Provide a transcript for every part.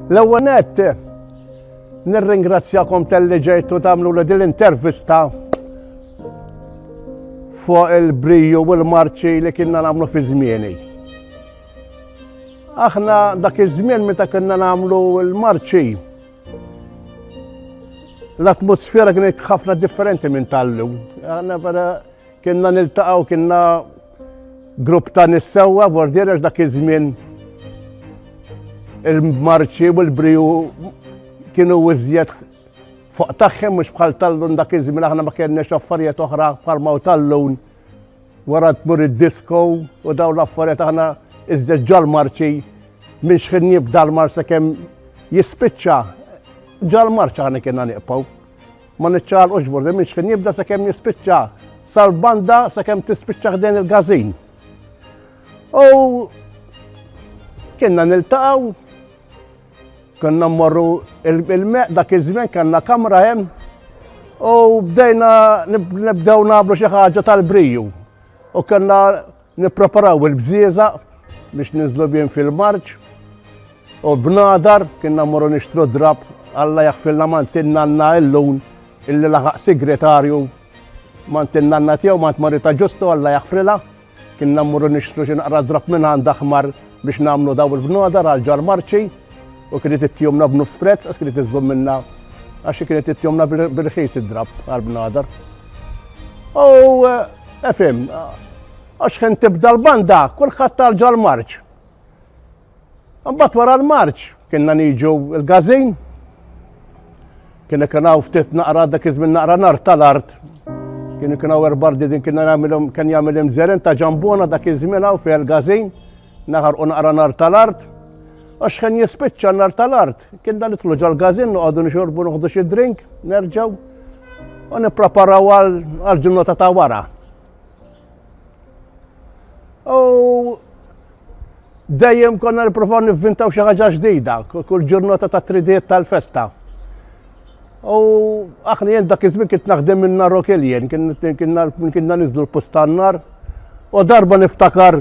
L-ewwel nett nirringrazzjakom tal-li ġejtu tagħmlu li din l-intervista fuq il-briju u l-marċi li kienna nagħmlu fi żmieni. Aħna dak iż-żmien meta kellna nagħmlu l-marċi, l-atmosfera kienet ħafna differenti minn tal-lum. Aħna vera kienna niltaqgħu kienna grupp ta' nissewwa vordiera dak iż-żmien il-marċi u l-briju kienu iżjed fuq tagħhom mhux bħal tal-lun dak iż-żmien aħna ma kellniex affarijiet oħra bħal ma' tal-lun. Wara tmur id-disko u daw l-affarijiet aħna iżjed ġal-marċi minn xħin jibda l-mar sakemm jispiċċa ġal-marċ aħna kienna niqpaw. Ma niċċaqlqux bordi minn xħin jibda sakemm jispiċċa sal-banda sakemm tispiċċa ħdejn il-gazin. U kienna niltaqgħu Konna mmorru il-meq dak iż-żmien kellna kamra hemm u bdejna nibdew nagħmlu xi ħaġa tal-briju. U kellna nippreparaw il-bżieża biex ninżlu bjien fil-marġ u bnadar kienna mmorru nixtru drab Alla jaħfilna mantinna għandna illun illi laħaq sigretarju mantinna għandna tiegħu mant marita ġustu Alla jaħfrilha. Kinna mmorru nixtru xi naqra drab minn għand aħmar biex nagħmlu dawn il-bnodar għal ġar marċi u kienet ittihomna b'nofs prezz għax kienet iżżomm minna għax kienet ittihomna bil-ħis id-drab għal bnodar. U efim, għax kien tibda l-banda, kulħadd tal-ġar marċ. Mbagħad wara l-marċ kienna niġu l-gazin. Kienna kienaw ftit naqra dak iż-żmien naqra nar tal-art. Kienu kienaw erbardi din kienna nagħmilhom kien jagħmilhom żeren ta' ġambona dak iż-żmien hawn fejn il-gazin naħar u naqra nar tal-art. Għax kien jispiċċa nar tal-art. Kien dan nitlu ġal-gazin noqogħdu nixorbu noħdu xi drink, nerġgħu u nippreparaw għal ġurnata ta' wara. U dejjem konna niprofaw nivvintaw xi ħaġa ġdida, kull ġurnata ta' tridiet tal-festa. U aħna jien dak iż-żmien kien naħdem minn nar Rokeljen, kien niżlu l-postannar. U darba niftakar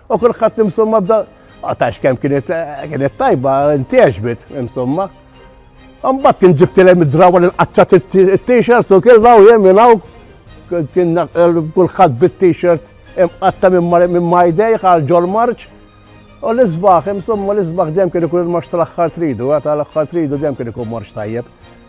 U kulħadd insomma bda għatax kemm kienet kienet tajba ntieġbet insomma. Mbagħad kien ġibtilhem id-drawa li qaċċat it-t-shirt u kien law jem jingħaw kien kulħadd bit-t-shirt imqatta minn majdej għal ġol marċ. U l-isbaħ, insomma l-isbaħ dem kien ikun il-marċ tal-axħar tridu, għata l-axħar tridu dem kien ikun marċ tajjeb.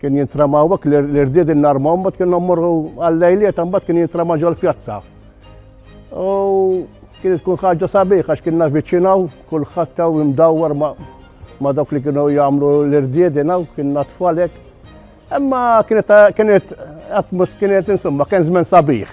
Kien jintrama għak l-irdied il-narma, mbat kien morru għall-lejliet, mbat kien jintrama ġol pjazza. U kien tkun ħagġa sabiħ, għax kienna viċinaw, kull ħattaw imdawwar ma dawk li kienu jgħamlu l-irdied inaw, kien natfalek. Emma kienet, kienet, atmos kienet insomma, kien zmen sabiħ.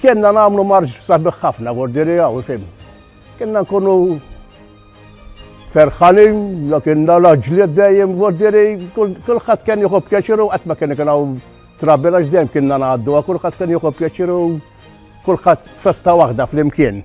Kienna nagħmlu marġ sabiħ ħafna gordiri hawn ifhem. Kienna nkunu ferħanin, la kienna laġli dejjem gordiri, kulħadd kien jieħu pjaċiru qatt ma kien ikun hawn trabbi għax dejjem kienna ngħaddu, kulħadd kien jieħu pjaċiru kulħadd festa waħda flimkien.